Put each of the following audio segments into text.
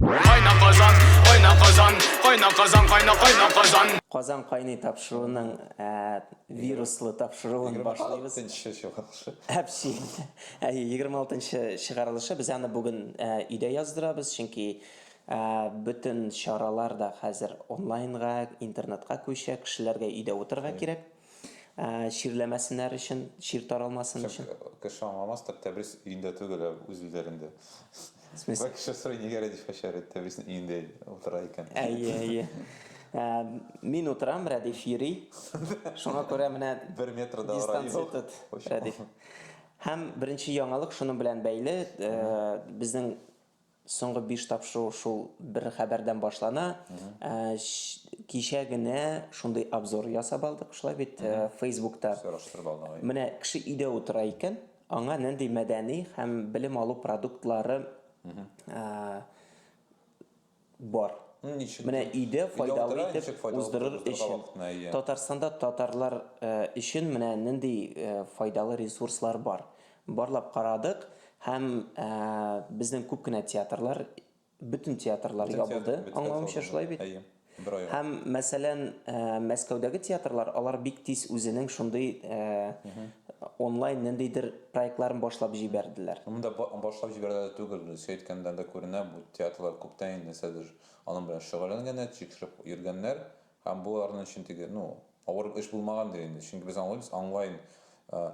Кайна Казан, кайна Казан, кайна Казан, кайна кайна Казан. Казан кайный тапшыруының ә, вируслы тапшыруын башлыйбыз. 26 чыгарылышы. Әпси. Ә, 26-нчы чыгарылышы. Без аны бүген ә, өйдә яздырабыз, чөнки ә, бөтен чаралар да хәзер онлайнга, интернетка күчә, кешеләргә өйдә утырырга кирәк. Ә, чирләмәсеннәр өчен, чир таралмасын өчен. Кеше аңламас, так Тәбрис өендә түгел, ә үз өйләрендә. Бер кеше сорый, нигә Рәдиф Хәшәрит Тәбрисның өендә утыра икән? Әйе, әйе. Ә, мин утырам, Рәдиф йөри. Шуңа күрә менә бер метр да дистанция юк. тот, Рәдиф. Һәм беренче яңалык шуның белән бәйле, э, безнең Соңгы биш тапшыру шул бер хәбәрдән башлана. Ә, ш- Кичә генә шундый обзор ясап алдык, шулай бит, э, Фейсбукта. Сораштырып алдың, әйе. Менә кеше өйдә утыра икән, аңа нинди мәдәни һәм белем алу продуктлары ә, бар. Ну, ничек? Менә өйдә Өйдә файдалы утыра, итеп ничек файдалы уздырыр продуктларга өчен. вакытына ия? Татарстанда татарлар э, өчен менә нинди э, файдалы ресурслар бар. Барлап карадык һәм безнең күп кенә театрлар, бөтен театрлар ябылды, аңлавымча шулай бит? Әйе. Һәм, мәсәлән, Мәскәүдәге театрлар, алар бик тиз үзенең шундый онлайн ниндидер проектларын башлап җибәрделәр. Монда башлап җибәрделәр түгел, Илсөя әйткәннән дә күренә, бу театрлар күптән инде нәрсәдер аның белән шөгыльләнгәннәр, тикшереп йөргәннәр, Һәм боларның өчен теге, ну, авыр эш булмагандыр инде, чөнки без аңлыйбыз, онлайн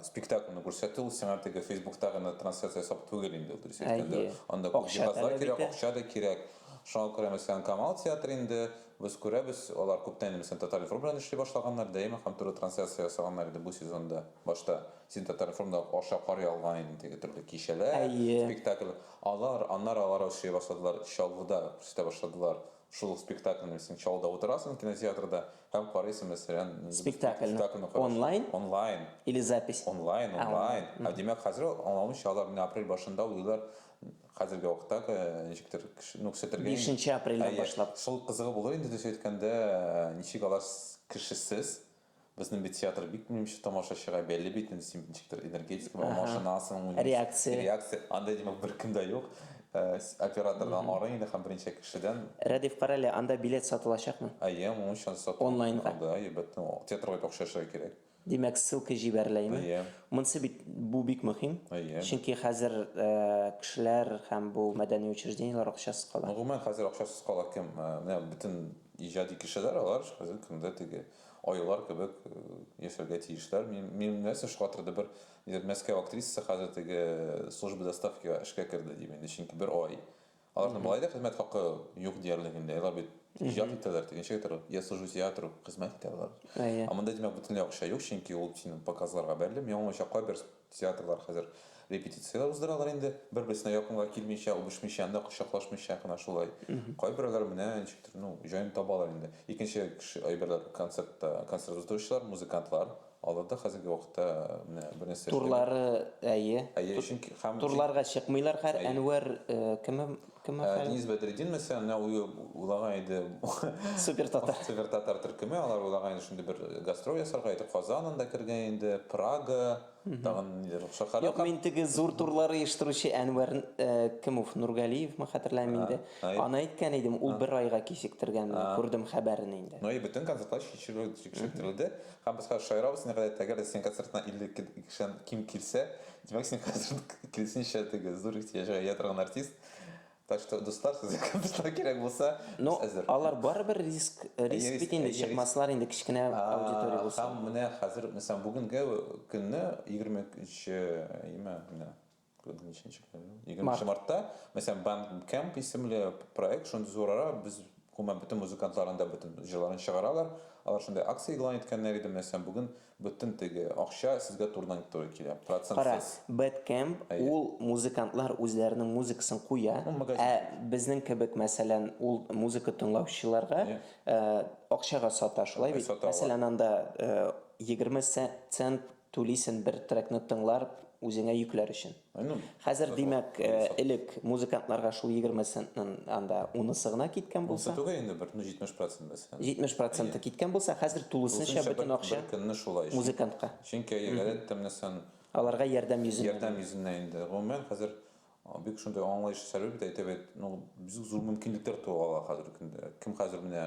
спектакльне күрсәтү ул сиңа теге Фейсбукта гына трансляция ясап түгел инде, ул дөрес әйткәндә. Анда күп җиһазлар кирәк, акча да кирәк. Шуңа күрә, мәсәлән, Камал театры инде, без күрәбез, алар күптән инде, мәсәлән, Татар-информ белән эшли башлаганнар, Дәйми һәм туры трансляция ясаганнар иде бу сезонда. Башта син Татар-информда аша карый алган идең теге төрле кичәләр, спектакльләр. Алар, аннары алар эшли башладылар, Чаллыда күрсәтә башладылар. Шул ук спектакльне син чалда утырасың кинотеатрда һәм карыйсың мәсәлән спектакльне спектакльне карыйсың. онлайн онлайн или запись онлайн А, онлайн онлайн. Ә димәк хәзер ул аңламыйча алар менә апрель башында уйлыйлар хәзерге вакытта э, ничектер кеше- ну кесәтергә инде- Бишенче апрельдән Әйе. башлап. шул кызыгы булыр инде дөрес әйткәндә э, ничек алар с- кешесез Безнең бит театр бик мөһимче тамашачыга бәйле бит инде син ничектер энергетика белән машинасың реакция реакция анда димәк беркем дә юк оператордан арый инде һәм берничә кешедән Рәдиф карале анда билет сатылачакмы әйе моның өчен сату онлайнга да әлбәттә театрга акча эшләргә кирәк димәк ссылка җибәреләме әйе монысы бит бу бик мөһим әйе чөнки хәзер кешеләр һәм бу мәдәни учреждениеләр акчасыз кала гомумән хәзер акчасыз кала кем менә бөтен иҗади кешеләр алар хәзер көндә теге аюлар кебек яшәргә тиешләр. Мин нәрсә шакатырды, бер Мәскәү актрисасы хәзер теге служба доставкига эшкә керде дим инде, чөнки бер ай. Аларның болай да хезмәт хакы юк диярлек инде. Алар бит иҗат итәләр, тегенчә итәләр. Я служу театру, хезмәт итәләр. Ә монда димәк бөтенләй акча юк, чөнки ул синең показларга бәйле. Миңа уңайча кайбер Театрлар хәзер репетицияләр уздыралар инде, бер-берсенә якынга килмичә, үбешмичә, анда кочаклашмыйча гына шулай. Кайберәүләр менә ничектер, ну, җаен табалар инде. Икенче кеше әйберләр, концертта, концерт уздыручылар, музыкантлар, алар да хәзерге вакытта менә бер нәрсә эшләми. Турлары, әйе. Әйе, чөнки һәм. Турларга чыкмыйлар хәр, Әнвәр кемем? Денис Бәдретдин мәсәлән, менә уйлаган иде. Супер татар. Супер татар төркеме, алар уйлаган иде шундый бер гастроль ясарга иде. Казан анда кергән инде, Прага, тагын ниләр шәһәрләр. Юк, мин теге зур турлар оештыручы Әнвәр кемов, Нургалиевме, хәтерләмим инде. Аны әйткән идем, ул бер айга кичектергән, менә күрдем хәбәрен инде. Ну и бөтен концертлар кичектерелде. Һәм без хәзер шаярабыз, әгәр дә синең концертыңа 52 кешедән ким килсә, Димәк, син хәзер киресенчә теге зур ихтыяҗга ия торган артист. Так что, дуслар, сезгә кемдер кирәк булса, ну, без әзер. Алар барыбер риск, риск бит инде чыкмаслар инде кечкенә аудитория булса. Һәм менә хәзер, мәсәлән, бүгенге көнне 23 име, менә ниченче көн? 23 мартта, мәсәлән, Band Camp исемле проект шундый зурара, без гомумән бөтен музыкантларында бөтен җырларын чыгаралар. Алар шундый акция игълан иткәннәр иде, мәсәлән, бүген Бөтен теге акча сезгә турыдан-туры килә, Кара, процентсыз. Bad Camp, Әйе. ул музыкантлар үзләренең музыкасын куя, Ул магазин ә кебек. безнең кебек, мәсәлән, ул музыка тыңлаучыларга Әйе. акчага сата, шулай бит? Сата алар. Мәсәлән, анда егерме цент түлисен бер трекны тыңлар, үзеңә йөкләр өчен. Хәзер, димәк, элек музыкантларга шул 20 центның анда унысы гына киткән булса. Унысы түгел инде, бер 70% мәсәлән. 70% киткән булса, хәзер тулысынча бөтен акча музыкантка. Чөнки гадәттә менә син. Аларга ярдәм йөзеннән. Ярдәм йөзеннән инде. Гомумән, хәзер бик шундый аңлаешлы сәбәп итә, әйтәбез, бик зур мөмкинлекләр туа ала хәзерге көндә. Кем хәзер менә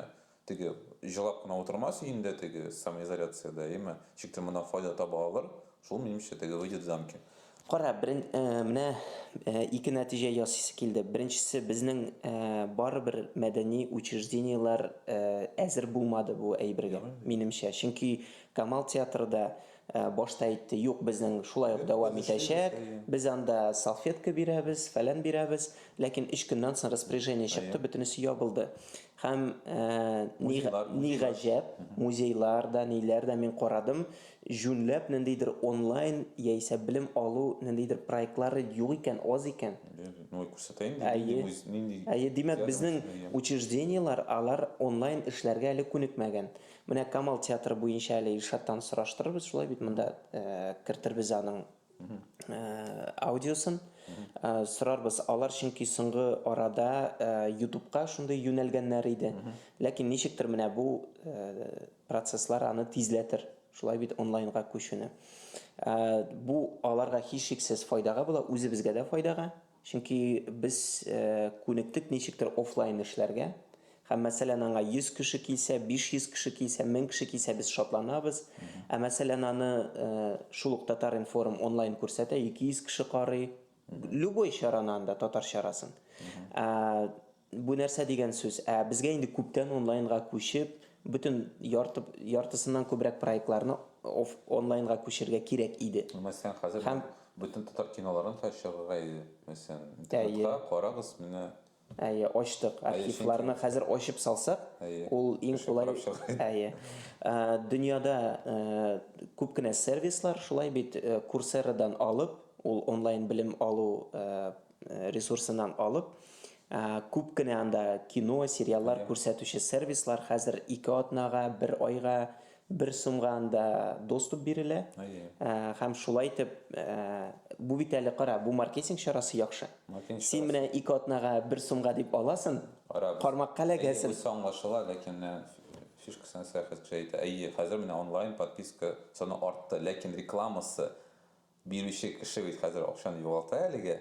Теге җылап кына утырмас өендә теге самоизоляциядә, яме ничектер моннан файда таба алыр, шул минемчә теге выйдет замки. Кара, берен, менә ике нәтиҗә ясыйсы килде. Беренчесе, безнең барыбер мәдәни учреждениеләр әзер булмады бу әйбергә, минемчә. Чөнки Камал театры да башта әйтте, юк, безнең шулай ук дәвам итәчәк, без анда салфетка бирәбез, фәлән бирәбез, ләкин өч көннән соң распоряжение чыкты, бөтенесе ябылды. Һәм ни ни гаҗәп, музейлар да, ниләр дә мин карадым, җүнләп ниндидер онлайн яисә белем алу ниндидер проектлары юк икән, аз икән. Ну, күрсәтә инде, нинди муз, нинди. Әйе, димәк, безнең учреждениеләр алар онлайн эшләргә әле күнекмәгән. Менә Камал театры буенча әле Илшаттан сораштырырбыз, шулай бит, монда кертербез аның Э, аудиосын э, сорарбыз алар чөнки соңгы арада э, ютубка шундый юнәлгәннәр иде ләкин ничектер менә бу процесслар аны тизләтер шулай бит онлайнга күчүне бу аларга һичшиксез файдага була үзебезгә дә файдага Чөнки без күнектек ничектер офлайн эшләргә. Һәм мәсәлән аңа 100 кеше килсә, 500 кеше килсә, 1000 кеше килсә без шатланабыз. Ә мәсәлән аны шул ук Татар-информ онлайн күрсәтә, 200 кеше карый. Любой чараны анда, татар чарасын. Бу нәрсә дигән сүз? Ә безгә инде күптән онлайнга күчеп, бөтен ярты яртысыннан күбрәк проектларны оф онлайнга күчерергә кирәк иде. Мәсәлән, хәзер Һәм бөтен татар киноларын да чыгарырга иде, мәсәлән, интернетка Әйе. карагыз, менә. Әйе, ачтык. Әйе, чөнки Архивларны хәзер ачып салсак, Әйе, ул иң кеше кулай карап чыгар иде. Әйе. Ә, дөньяда, ә, күп кенә сервислар шулай бит, Курсерадан алып, ул онлайн белем алу, ә, э, ресурсыннан алып, э, күп кенә анда кино, сериаллар күрсәтүче сервислар хәзер ике атнага, бер айга, бер сумга анда доступ бирелә. Э, һәм шулай итеп, бу бит әле кара, бу маркетинг чарасы яхшы. Син менә ике атнага, бер сумга дип аласың, кармакка эләгәсең. Бу аңлашыла, ләкин фишкасын сәяхәтче әйтә. Әйе, хәзер менә онлайн подписка саны артты, ләкин рекламасы Бирүче кеше бит хәзер акчаны югалта әлеге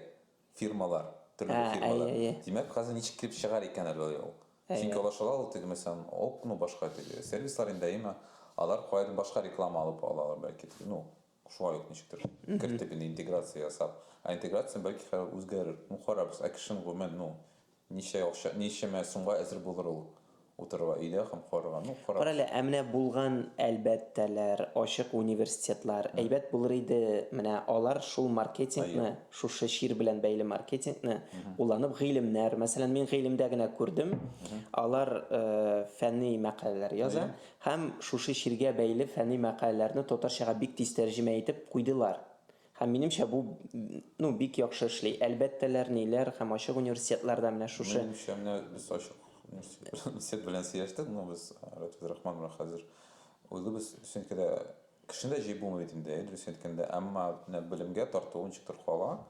фирмалар, төрле Ә, фирмалар. әйе, әйе. Димәк, хәзер ничек килеп чыгар икән әле ул? Әйе. Чөнки алар шулай ул теге мәсәлән, ок, ну, башка теге сервислар инде, әйеме? Алар каядыр башка реклама алып алалар, бәлки, ну, шулай ук ничектер кертеп инде интеграция ясап. Ә интеграция бәлки хәзер үзгәрер. Ну, карарбыз. Ә кешенең гомумән, ну, Ничә акча, ничәмә сумга әзер булыр ул утырырга өйдә һәм карарга? Ну, карарбыз. Карале, ә менә булган әлбәттәләр, ачык университетлар, әйбәт булыр иде, менә алар шул маркетингны, шушы чир белән бәйле маркетингны кулланып, гыйлемнәр, мәсәлән, мин гыйлемдә генә күрдем, алар фәнни мәкаләләр яза һәм шушы чиргә бәйле фәнни мәкаләләрне татарчага бик тиз тәрҗемә итеп куйдылар. Һәм минемчә бу ну бик яхшы эшли. Әлбәттәләр, ниләр һәм ачык университетларда менә шушы. Минемчә менә без ачык университет белән сөйләштек, ну без Рәтүз Рахман белән хәзер үзебез чөнки дә кешене дә җыеп булмый бит инде, дөрес әйткәндә, әмма менә белемгә тарту ничектер кала.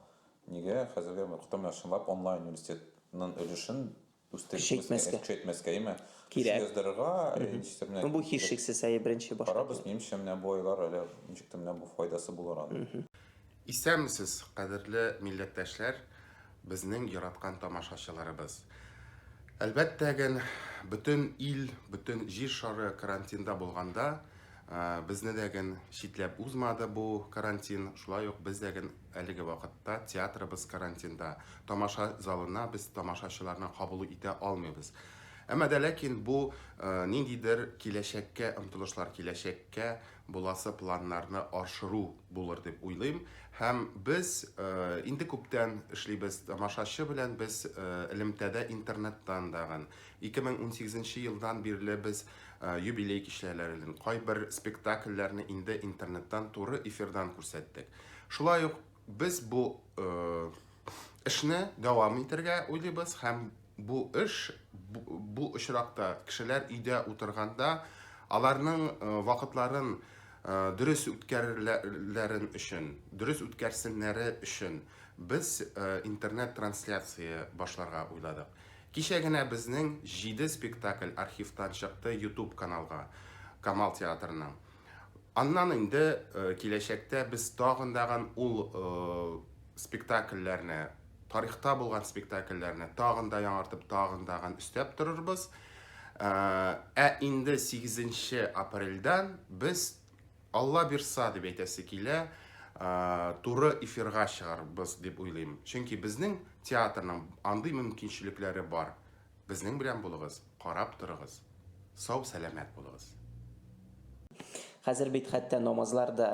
Нигә хәзергә кытым чынлап онлайн университетның өлешен Көчәйтмәскә. Көчәйтмәскә, яме. Кирәк. Яздырырга, ничектер менә. Ну, бу һичшиксез, әйе, беренче башка. Карабыз, минемчә, менә бу айлар әле ничектер менә бу файдасы булыр аны. Исәнмесез, кадерле милләттәшләр, безнең яраткан тамашачыларыбыз. Әлбәттә ген, бөтен ил, бөтен җир шары карантинда булганда, безне дә ген читләп узмады бу карантин, шулай ук без дә ген Әлеге вакытта театрыбыз карантинда. Тамаша залына без тамашачыларны кабул итә алмыйбыз. Әмма дә ләкин бу ниндидер киләчәккә омтылышлар, киләчәккә буласы планнарны аршыру булыр дип уйлыйм. Һәм без инде күптән эшлибез, тамашачы белән без элемтәдә интернеттан тагын. 2018 нче елдан бирле без юбилей кичәләрен, кайбер спектакльләрне инде интернеттан туры эфирдан күрсәттек. Шулай ук без бу эшне дәвам итергә уйлыйбыз һәм бу эш бу очракта кешеләр өйдә утырганда аларның вакытларын дөрес үткәрерләрен өчен, дөрес үткәрсеннәре өчен без интернет-трансляция башларга уйладык. Кичә генә безнең җиде спектакль архивтан чыкты YouTube каналга, Камал театрының. Аннан инде э, киләчәктә без тагын дагын ул э, спектакльләрне, тарихта булган спектакльләрне тагын да яңартып, тагын дагын өстәп торырбыз. Э, ә инде 8 апрельдән без Алла бирса дип әйтәсе килә, туры эфирга чыгарбыз дип уйлыйм. Чөнки безнең театрның андый мөмкинчелекләре бар. Безнең белән булыгыз, карап торыгыз. Сау сәламәт булыгыз. Хәзер бит хәтта намазлар да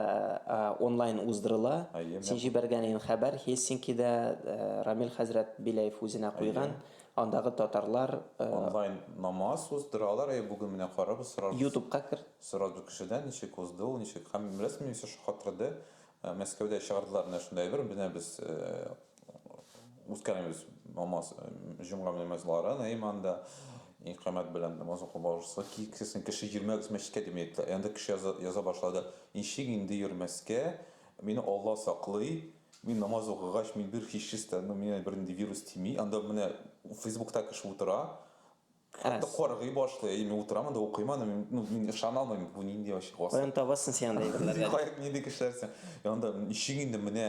онлайн уздырыла. Син җибәргән ин хәбәр Хельсинкида Рамил хәзрәт Беляев үзенә куйган, андагы татарлар Онлайн намаз уздыралар, әйе, бүген менә карабыз, сорарбыз. Ютубка кер. Сорарбыз кешедән, ничек узды ул, ничек, һәм беләсеңме, мине шаккатырды, Мәскәүдә чыгардылар менә шундый әйбер, менә без үткәрәбез намаз, җомга намазларын, әй монда икамәт белән намаз укып барырсыз, килсен кеше йөрмәгез мәчеткә дип әйттеләр. Ә анда кеше яза башлады. Ничек инде йөрмәскә, мине Алла саклый, мин намаз укыгач, мин бер һичшистә, ну, миңа бернинди вирус тими. Анда менә Фейсбукта кеше утыра, Хәтта каргый башлый, әй, мин утырам анда укыйм аны, мин, ну, мин ышана алмыйм, бу нинди вообще Каян класслар. табасың син андый әйберләрне? Каян нинди кешеләрсең? Ә анда ничек инде менә,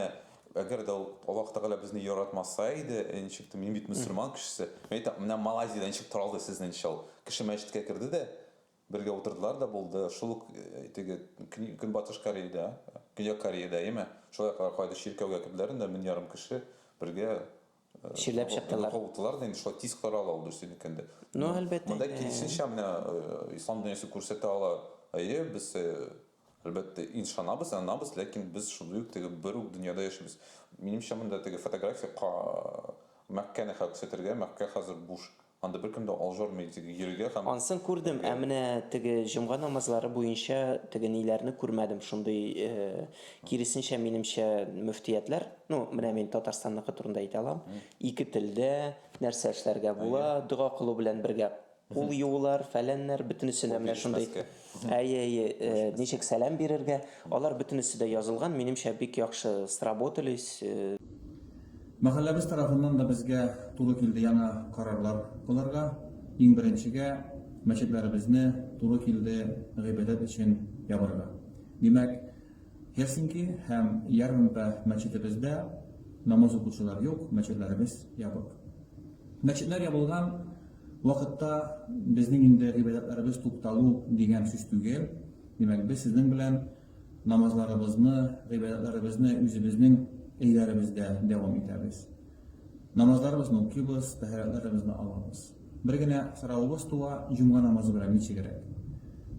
әгәр дә ул Аллаһ Тәгалә безне яратмаса иде, ә ничек тә, мин бит мөселман кешесе. Мин әйтәм, менә Малайзиядә ничек таралды сезнең ничә ул? Кеше мәчеткә керде дә, бергә утырдылар да булды. Шул ук э, теге Кни- Көнбатыш Кореядә, Көньяк Кореядә, яме шулай кар- кайдыр чиркәүгә керделәр инде, мең ярым кеше бергә Чирләп чыктылар. Кылдылар да инде шулай тиз карала ул дөрес микән дип. Ну, әлбәттә. Монда киресенчә менә ислам дөньясы күрсәтә ала. Әйе, без әлбәттә иншанабыз, янабыз, ләкин без шундый ук теге бер үк дөньяда яшибез. Минемчә, монда теге фотография Мәккәне хәкүсәтергә, Мәккә хәзер буш. Анда беркем дә алҗармый иде, тик йөрергә һәм. Ансын күрдем, ә менә теге җомга намазлары буенча теге ниләрне күрмәдем, шундый, киресенчә, минемчә, мөфтиятләр, ну, менә мин Татарстанныкы турында әйтә алам, ике телдә, нәрсә эшләргә була, дога кылу белән бергә кул юулар, фәләннәр, бөтенесенә менә шундый. Әйе, әйе, э, ничек сәлам бирергә? Алар бөтенесе дә язылган, минемчә бик яхшы сработались. Э. Мәхәлләбез тарафыннан да безгә туры килде яңа карарлар кылырга. Иң беренчегә мәчетләребезне туры килде гыйбадәт өчен ябарга. Димәк, Хельсинки һәм Ярмпа мәчетебездә намаз укучылар юк, мәчетләребез ябык. Мәчетләр ябылган Вакытта безнең инде гыйбадәтләребез тукталу дигән сүз түгел. Димәк, без сезнең белән намазларыбызны, гыйбадәтләребезне үзебезнең өйләребездә дәвам итәбез. Намазларыбызны укыйбыз, тәһарәтләребезне алабыз. Бер генә соравыбыз туа, җомга намазы белән ничегрәк?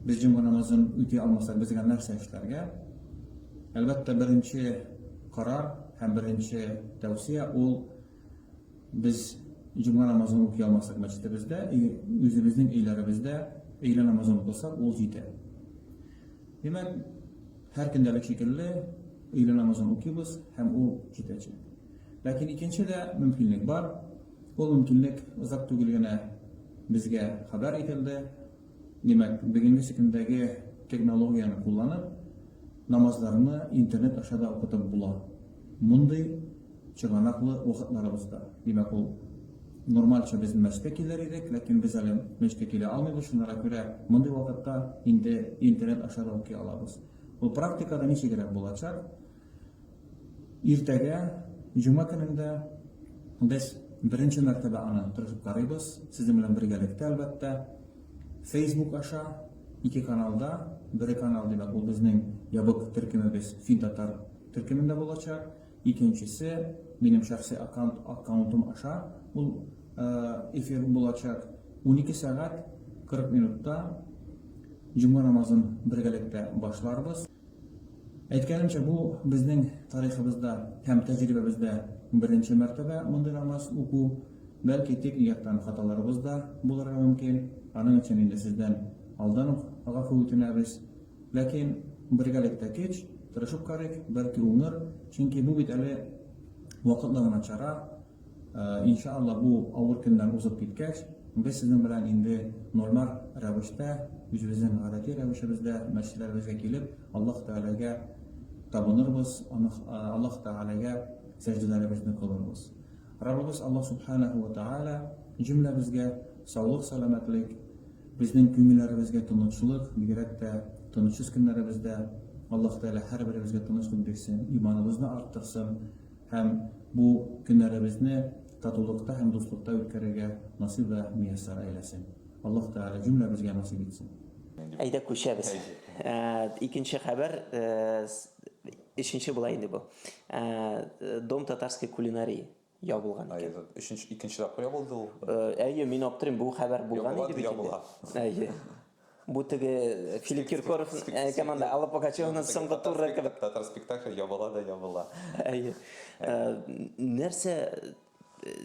Без җомга намазын үти алмасак, безгә нәрсә эшләргә? Әлбәттә, беренче карар һәм беренче тәүсия ул Без җомга намазын укый алмасак мәчетебездә, үзебезнең өйләребездә өйлә намазын укысак, ул җитә. Димәк, һәр көндәлек шикелле өйлә намазын укыйбыз һәм ул җитәчәк. Ләкин икенче дә мөмкинлек бар. Ул мөмкинлек озак түгел генә безгә хәбәр ителде. Димәк, бүгенге секендәге технологияне кулланып, намазларны интернет аша да укытып була. Мондый чыганаклы вакытларыбызда. Димәк, ул нормальча без мәчеткә килер идек, ләкин без әле мәчеткә килә алмыйбыз, шунара күрә мондый вакытта инде интернет аша да укый алабыз. Ул практикада ничегрәк булачак? Иртәгә, җома көнендә без беренче мәртәбә аны тырышып карыйбыз, сезнең белән бергәлектә, әлбәттә. Facebook аша, ике каналда, бере канал, димәк, ул безнең ябык төркемебез Финтатар төркемендә булачак, икенчесе, минем шәхси аккаунт, аккаунтым аша ул эфир булачак. Унике сәгать кырык минутта җома намазын бергәлектә башларбыз. Әйткәнемчә, бу безнең тарихыбызда һәм тәҗрибәбездә беренче мәртәбә мондый намаз уку. Бәлки, техник яктан хаталарыбыз да булырга мөмкин, аның өчен инде сездән алдан ук гафу үтенәбез. Ләкин бергәлектә көч, тырышып карыйк, бәлки уңыр, чөнки бу бит әле вакытлы гына чара. Иншалла бу авыр көннәр узып киткәч, без сезнең белән инде нормаль рәвештә, үзебезнең гадәти рәвешебездә мәчетләребезгә килеп, Аллаһ Тәгаләгә табынырбыз, Аллаһ Тәгаләгә сәҗдәләребезне кылырбыз. Раббыбыз Аллаһ Сүбхәнәһү вә Тәгалә җөмләбезгә саулык-сәламәтлек, безнең күңелләребезгә тынычлык, бигрәк тә тынычсыз көннәребездә Аллаһ Тәгалә һәрберебезгә тынычлык бирсен, иманыбызны арттырсын, Һәм бу көннәребезне татулыкта һәм дуслыкта үткәрергә насыйп вә мияссәр әйләсен. Аллаһ Тәгалә җөмләбезгә насыйп итсен. Әйдә күчәбез. Икенче хәбәр, өченче була инде бу. Дом татарской кулинарии ябылган икән. Өченче, икенче тапкыр ябылды ул. Әйе, мин аптырыйм, бу хәбәр булган иде бит инде. Ябыла, ябыла. Әйе. Бу теге Филипп Киркоров команда Алла Пугачеваның соңгы туры кебек. Татар спектакль ябыла да ябыла. Әйе. Нәрсә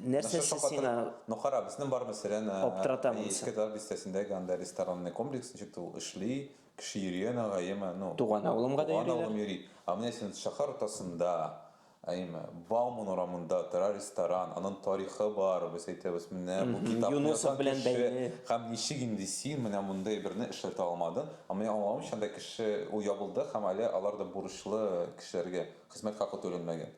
нәрсә сиңа? Ну кара, безнең барыбыз сирән. Аптыратамын. Иске Дәүләт бистәсендәге анда ресторанный комплекс ничек ул эшли, кеше йөри ана гаеме, ну. Туган авылымга да йөриләр. Туган авылым йөри. Ә менә син шәһәр уртасында, Әйме, Бауман урамында тора ресторан, анын тарихы бар, без әйтәбез, менә бу китапны язган кеше һәм ничек инде син менә мондый берне эшләтә алмадың, ә минем аңлавымча анда кеше, ул ябылды һәм әле алар да бурычлы кешеләргә, хезмәт хакы түләнмәгән.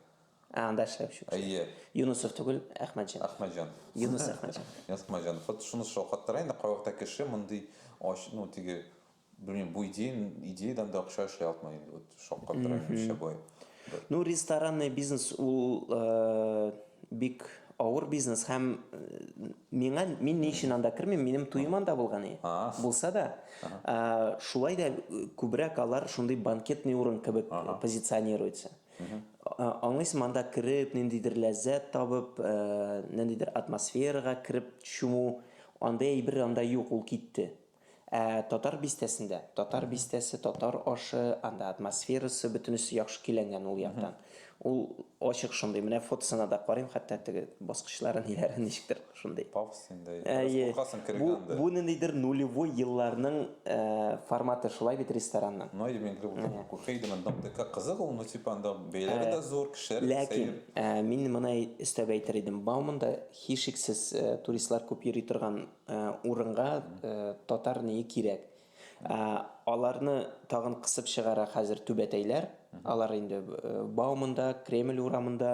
Ә, анда эшләүче кеше. Әйе. Юнысов түгел, Әхмәтҗан. Әхмәтҗан. Юныс Әхмәтҗан. Юныс Әхмәтҗан. Вот шуны шакаттыра инде, кайвакытта кеше мондый ач, ну, теге, Белмим, бу идея, идеядан да акча эшли алтмый инде, вот шаккатыра нишләп болай. Ну, ресторанный бизнес ул э, бик авыр бизнес һәм э, миңа мин ни өчен анда кермим, минем туем анда булган и. А. Булса да, э, шулай да э, күбрәк алар шундый банкетный урын кебек Ага. позиционируется. Э, Аңлыйсың, анда кереп, ниндидер ләззәт табып, э, ниндидер атмосферага кереп чуму, анда әйбер анда юк, ул китте. Ә Татар бистәсендә, Татар бистәсе, татар ашы, анда атмосферасы, бөтенесе яхшы көйләнгән ул яктан. Ул ачык шундый. Менә фотосына да карыйм, хәтта теге баскычлары, ниләре ничектер шундый. Пафоснендай. Бераз куркасың керергә анда. Бу ниндидер нулевой елларның форматы шулай бит ресторанның. Ну, әйе, мин кереп утырдым, курка идем, анда МТК кызык ул, ну, типа, анда бәяләре дә зур, кешеләре дә сәер. Ләкин мин моны өстәп әйтер идем, Бауманда, һичшиксез, туристлар күп йөри торган урынга татар ние кирәк. Аларны тагын кысып чыгара хәзер түбәтәйләр. Алар инде Баумында, Кремль урамында,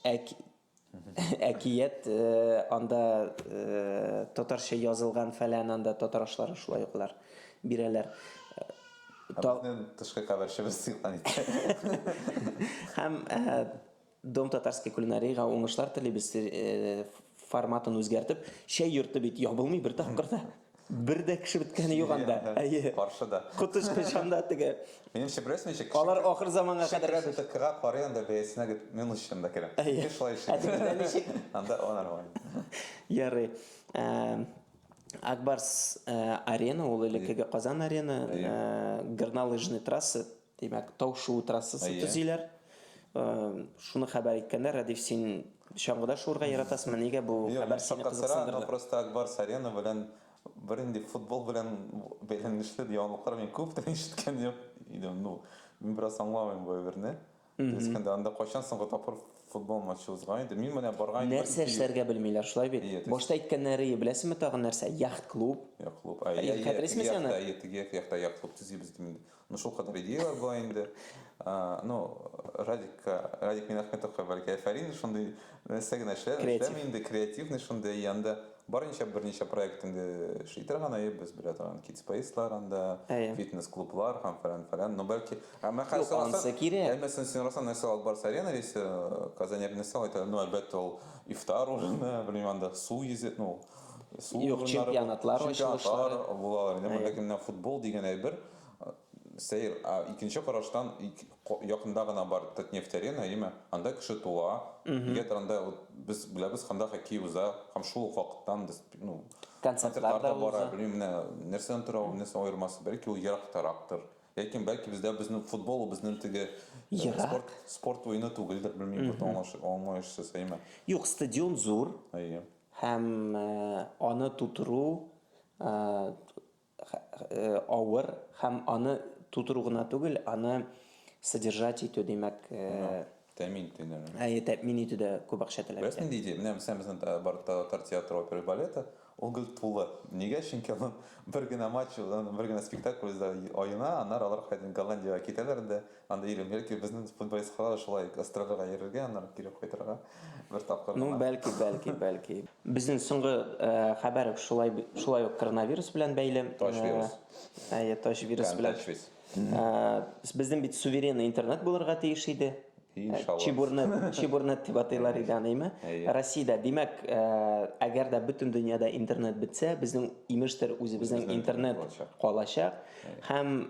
әк әкият анда татарча язылган фәлән анда татар ашлары шулай ук алар бирәләр. Безнең тышкы каберчебез сыйкан икән. Һәм Дом татарской кулинарига уңышлар телибез. Форматын үзгәртеп, чәй йорты бит ябылмый бер тапкыр да. Бер дә кеше беткәне юк анда. Әйе. Каршыда. Котыч кычанда теге. Минем шебрес ничек? Алар ахыр заманга кадәр яши. Шебрес ТКга карый анда бәясенә дип мин үз чынында керәм. Әйе. Шулай эшлим. Әтегездә ничек? Анда о нормально. Ярый. Акбарс Арена ул элеккеге Казан Арена. Горнолыжный трасса Димәк, тау-шуу трассасы төзиләр. Шуны хәбәр иткәннәр. Рәдиф, син чаңгыда шуырга яратасыңмы? Нигә бу хәбәр сине кызыксындырды? Юк, просто Акбарс Арена белән бернинди футбол белән бәйләнешле яңалыклар мин күп тә ишеткән юк идем. Ну, мин бераз аңламыйм бу әйберне. Дөрес кенә анда кайчан соңгы тапкыр футбол матчы узган иде? Мин менә барган идем. Нәрсә эшләргә белмиләр, шулай бит? Башта әйткәннәре, беләсеңме тагын нәрсә? Яхт-клуб. Яхт-клуб. Әйе, хәтерлисеңме син аны? Әйе, теге яхта яхт-клуб төзибез дип инде. Ну шул кадәр идеяләр була инде. Ну, Радик, Радик Минахметовка бәлки әфәрин шундый нәрсә генә эшләр, эшләми инде креативный шундый янда барынча берничә проект инде эшли торган, әйе, без белә торган Kids Space-лар анда, фитнес-клублар һәм фәлән фәлән. Ну бәлки, әмма хәзер сораса, әммәсен син сорасаң, нәрсә алып барасы арена рейсы, Казань аренасы алып барасы, ну әлбәттә ул ифтар урыны, белмим анда су йөзе, ну Су Юк, урыннары, чемпионатлар чемпионатлар ачылышлары. булалар. Инде монда кемнән футбол дигән әйбер э, сәер. Ә икенче караштан ик- ко- якында гына бар Татнефть арена, әйеме? Анда кеше туа. Нигә торганда вот без беләбез, ханда хоккей уза. Һәм шул ук вакыттан без ну Концертлар да бара. уза. Белмим, менә нәрсәдән тора ул, нәрсә аермасы. Бәлки ул ерактарактыр. Ләкин бәлки бездә безнең футбол ул безнең теге э, Ерак. спорт спорт уены түгелдер, белмим, бу аңлаш- аңлаешсыз, әйеме? Юк, стадион зур. Әйе. Һәм аны тутыру авыр, һәм аны тутыру гына түгел, аны содержать итү, димәк, Тәэмин итү дә. Әйе, тәэмин итү дә күп акча таләп итә. Беләсең нинди идея? Менә безнең бар татар театры, опера, балеты, ул гел тулы. Нигә? Чөнки аның бер генә матч, бер генә спектакль аена, аннары алар кайтып Голландиягә китәләр дә, Анда йөрим. Бәлки безнең футболистка да шулай гастрольгә йөрергә, аннары кире кайтырга бер тапкыр гына. Ну, бәлки, бәлки, бәлки. Безнең соңгы хәбәр шулай шулай ук коронавирус белән бәйле. Тач вирус. Әйе, тач вирус белән. Тач вирус. Безнең бит суверенный интернет булырга тиеш иде. Иншалла. Чебурнет, чебурнет дип атыйлар иде аны, әйме? Россиядә, димәк, әгәр дә бөтен дөньяда интернет бетсә, безнең имештер үзебезнең интернет калачак. Һәм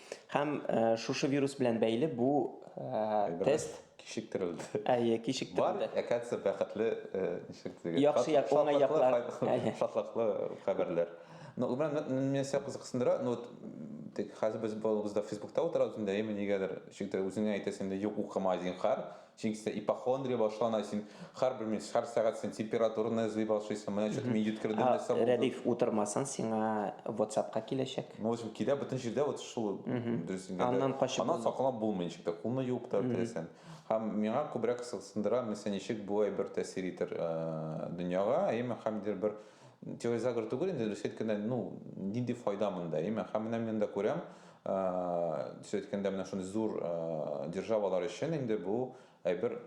Һәм э, шушы вирус белән бәйле бу э, тест кичектерелде. Әйе, кичектерелде. Бар, әкәтсә бәхетле э, ничек дигән. Яхшы як, уңай яклар. Шатлыклы хәбәрләр. Но Гүмран, мен сәк кызыксындыра, но вот тик хәзер без балыбызда Фейсбукта утырабыз инде, әйеме нигәдер, шикдер үзеңә әйтәсең инде, юк укыма зинхар, Чөнки синдә ипохондрия башлана, син һәрбер минут, һәр сәгать син температураны эзли башлыйсың, менә чё-то мин йөткердем, нәрсә булды. Рәдиф, утырмасаң, сиңа ватсапка киләчәк. Ну, в общем, килә, бөтен җирдә вот шул, дөрес әйткәндә. Аннан качып булмый. Аннан сакланып булмый ничек тә, кулны юып та бетерәсең. Һәм миңа күбрәк кызыксындыра, мәсәлән, ничек болай бер тәэсир итәр дөньяга, әйеме, һәм ниндидер бер теория заговор түгел инде, дөрес әйткәндә, ну, нинди файда монда, әйеме. Һәм менә мин анда күрәм, Төзә әйткәндә, менә шундый зур державалар өчен инде бу әйбер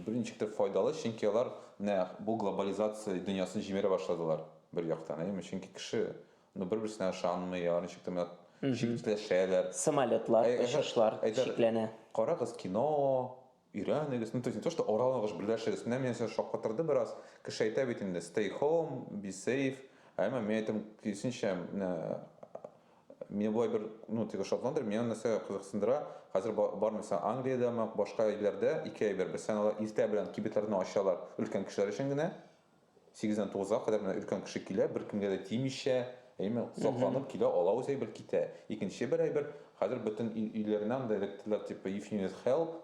бер ничек тә файдалы, чөнки алар менә бу глобализация дөньясын җимерә башладылар бер яктан, әйеме? Чөнки кеше ну бер-берсенә ышанмый, алар ничек тә менә читләшәләр. Самолетлар, очышлар чикләнә. Карагыз кино, Өйрәнегез, ну то есть не то что оралыгыз, берләшегез, менә мине сез шаккатырды бераз, кеше әйтә бит инде, stay home, be safe, ә әмма мин әйтәм, киресенчә, менә мине болай бер, ну теге шатландырмый, мине нәрсә кызыксындыра, хәзер бар мисал Англиядәме, башка илләрдә ике әйбер, берсен алар иртә белән кибетләрне ачалар, өлкән кешеләр өчен генә, Сигездән тугызга кадәр менә өлкән кеше килә, беркемгә дә тимичә, әйеме, сакланып килә, ала үз әйбер, китә. Икенче бер әйбер, хәзер бөтен ил, өйләренә анда эләктеләр, типа, if you need help,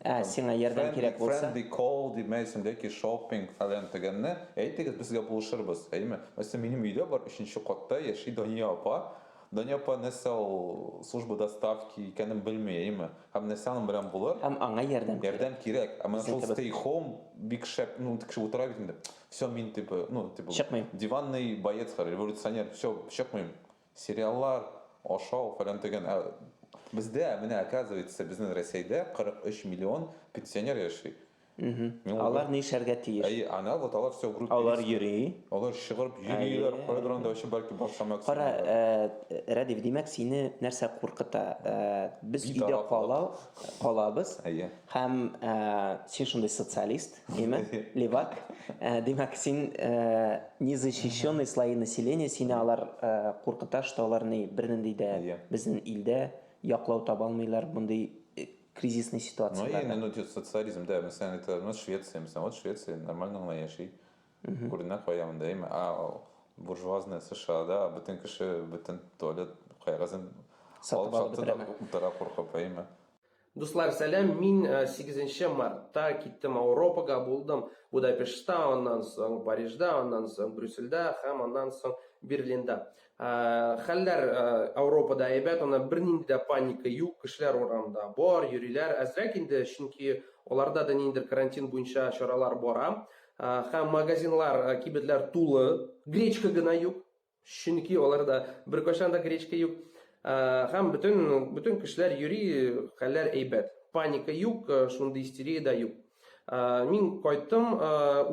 Ә, там, сиңа ярдәм friendly, кирәк булса. friendly call, дип, мә, исемдәге shopping, фәлән-төгәнне, әйтегез, безгә булышырбыз, әйеме. Мәсәлән, минем өйдә бар, өченче катта яши Дания апа. Дания апа нәрсә ул служба доставки икәнен белми, әйеме? Һәм нәрсә аның белән булыр? Һәм аңа ярдәм кирәк. Ярдәм кирәк. Ә менә шул stay home бик шәп, ну теге кеше утыра бит инде. Всё, мин типа, ну типа. Чыкмыйм. Диванный боец, революционер, всё, чыкмыйм. Сериаллар, ашау, фәлән-төгән. Ә бездә, менә оказывается, безнең Рәсәйдә 43 миллион пенсионер яши. Алар нишләргә тиеш? Әйе, ана вот алар все группа. Алар йөри. Алар чыгып йөриләр, кайдыр анда өчен бәлки башка мәксәт. Кара, э, Радив, димәк, сине нәрсә куркыта? Э, без өйдә кала, калабыз. Әйе. Һәм э, син шундый социалист, димәк, левак. Э, димәк, син э, незащищенный слои населения, сине алар э, куркыта, что алар ни бернинди дә безнең илдә яклау таба алмыйлар, мондый кризисный ситуацияләрдә. Ну, ну, ну, социализм, да, мәсәлән, әйтәләр, ну, Швеция, мәсәлән, вот Швеция нормально гына яши. Күренә кая монда, әйме, а буржуазная США-да бөтен кеше, бөтен туалет кайгызын сатып алып утыра куркып, әйме. Дуслар, сәлам, мин 8 э, мартта киттем Ауропага, булдым Будапештта, аннан соң Парижда, аннан соң Брюссельда һәм аннан соң Берлинда. Хәлләр Ауропада әйбәт, аны бернинди дә паника юк, кешеләр урамда бар, йөриләр, әзрәк инде, чөнки аларда да ниндидер карантин буенча чаралар бара. Һәм магазинлар, кибетләр тулы, гречка гына юк, чөнки аларда беркайчан да гречка юк. Һәм бөтен, бөтен кешеләр йөри, хәлләр әйбәт. Паника юк, шундый истерия дә юк. Мин кайттым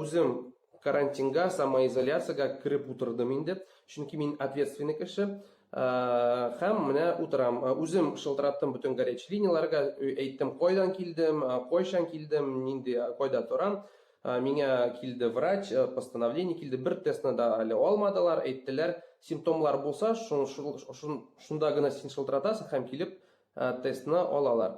үзем. Карантинга, самоизоляциягә кереп утырдым инде, чөнки мин ответственный кеше. Һәм менә утырам. Үзем шылтыраттым бөтен горячий линияләргә, әйттем, кайдан килдем, кайчан килдем, нинди, кайда торам. Миңа килде врач, постановление килде, бер тестны да әле алмадылар, әйттеләр, симптомлар булса, шунда гына син шылтыратасың һәм килеп Ә, тестны алалар.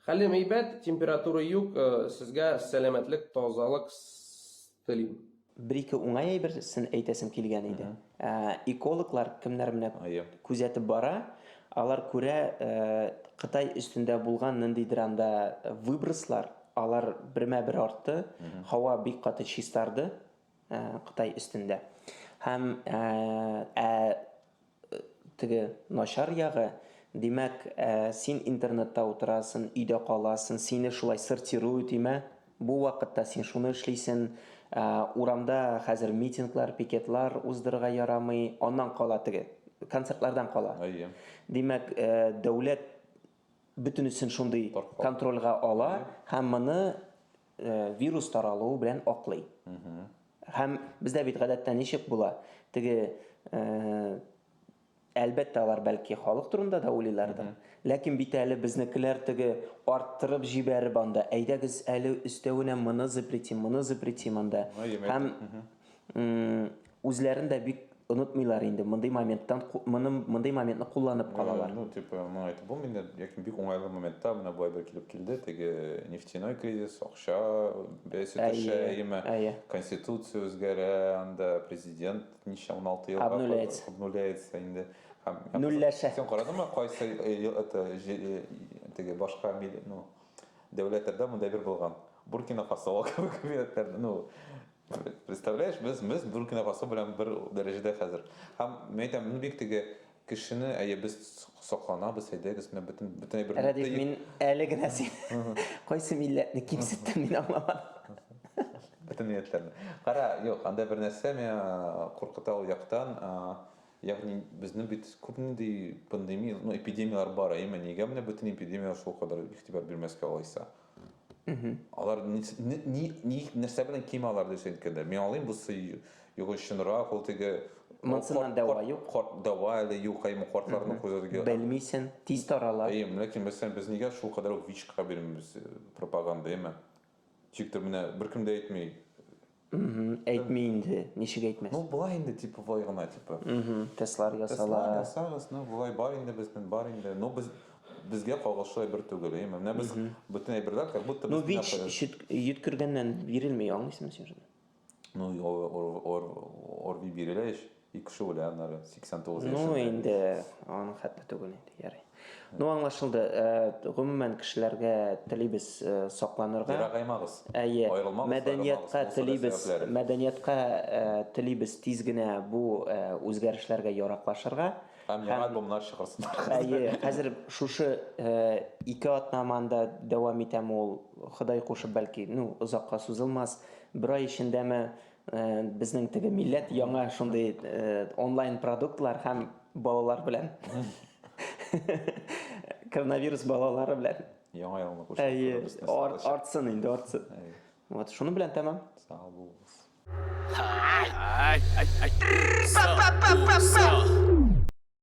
Хәлем әйбәт, температура юк, э, сезгә сәламәтлек, тазалык с телим. Бер-ике уңай әйберсен әйтәсем килгән иде. Ә, экологлар кемнәр менә Ае. күзәтеп бара, алар күрә, э, Кытай өстендә булган ниндидер анда выброслар, алар бермә-бер артты, һава бик каты чистарды, э, Кытай өстендә. Һәм, э, ә, Теге начар ягы, димәк, ә, син интернетта утырасын, өйдә каласын, сине шулай сортирую тимә, бу вакытта син шуны эшлисен, ә, урамда хәзер митинглар, пикетлар уздырырга ярамый, аннан кала теге, концертлардан кала. Әйе. Димәк, ә, дәүләт бөтенесен шундый контрольга ала һәм моны вирус таралуы белән аклый. Һәм бездә бит гадәттә ничек була? Теге әлбәттә алар бәлки халык турында да уйлыйлардыр. Ләкин бит әле безнекеләр теге арттырып җибәреп анда, әйдәгез әле өстәвенә моны запретим, моны запретим анда. Һәм үзләрен дә бик онытмыйлар инде мондый моменттан мондый моментны кулланып калалар ну типа моны айтып булмый инде яки бик уңайлы моментта менә былай бер килеп килде теге нефтяной кризис акча бәясе төшә яме конституция үзгәрә анда президент ничә он алты елга обнуляется инде нөлләшә сен карадыңмы кайсы это теге башка ну дәүләтләрдә мондай бер булган буркина фасо кебек ну Представляешь, без без Буркина Фасо белән бер дәрәҗәдә хәзер. Һәм мин әйтәм, ну бик теге кешене, әйе, без сокланабыз, әйдәгез, менә бөтен бөтен әйберне. Рәдиф, мин әле генә син кайсы милләтне кимсеттем, мин аңламадым. Бөтен милләтләрне. Кара, юк, анда бер нәрсә миңа куркыта ул яктан, ягъни безнең бит күп нинди пандемия, ну эпидемияләр бар, әйеме, нигә менә бөтен эпидемиягә шул кадәр игътибар бирмәскә алайса? Алар ни, ни, ни, нәрсә белән ким алар дисең кенде. Мин алыйм бу сый юк чынрак, ул теге Монсынан дәва юк. Корт дәва әле юк, әйме кортларны күзәтергә. Белмисен, тиз тарала. Әйе, ләкин мәсәлән без нигә шул кадәр ВИЧка бирмибез пропаганда, әйме? Тик тә менә беркем дә әйтми. Әйтми инде, ничек әйтмәс. Ну, болай инде, типа, болай гына, типа. Тестлар ясала. Тестлар ясагыз, ну, болай бар инде безнең, бар инде. Ну, без безгә кагылышлы әйбер түгел, әйме. Менә без бөтен әйберләр как будто без Ну, бич йөткергәннән бирелми, аңлыйсыңмы син шуны? Ну, ор ор ор орви бирелә ич. Ике кеше үлә аннары, 89 яшендә. Ну, инде аның хәтле түгел инде, ярый. Ну, аңлашылды. Э, гомумән кешеләргә телибез э, сакланырга. Ярагаймагыз. Әйе. Мәдәниятка телибез, мәдәниятка э, телибез тиз генә бу үзгәрешләргә яраклашырга. Һәм яңа альбомнар чыгарсыннар. Әйе, хәзер шушы ике атнаманда дәвам итәм ул, Ходай кушып, бәлки, ну, озакка сузылмас. Бер ай эчендәме Э, безнең теге милләт яңа шундый э, онлайн продуктлар һәм балалар белән коронавирус балалары белән яңа елны куштылар артсын инде артсын вот шуның белән тәмам сау булыгыз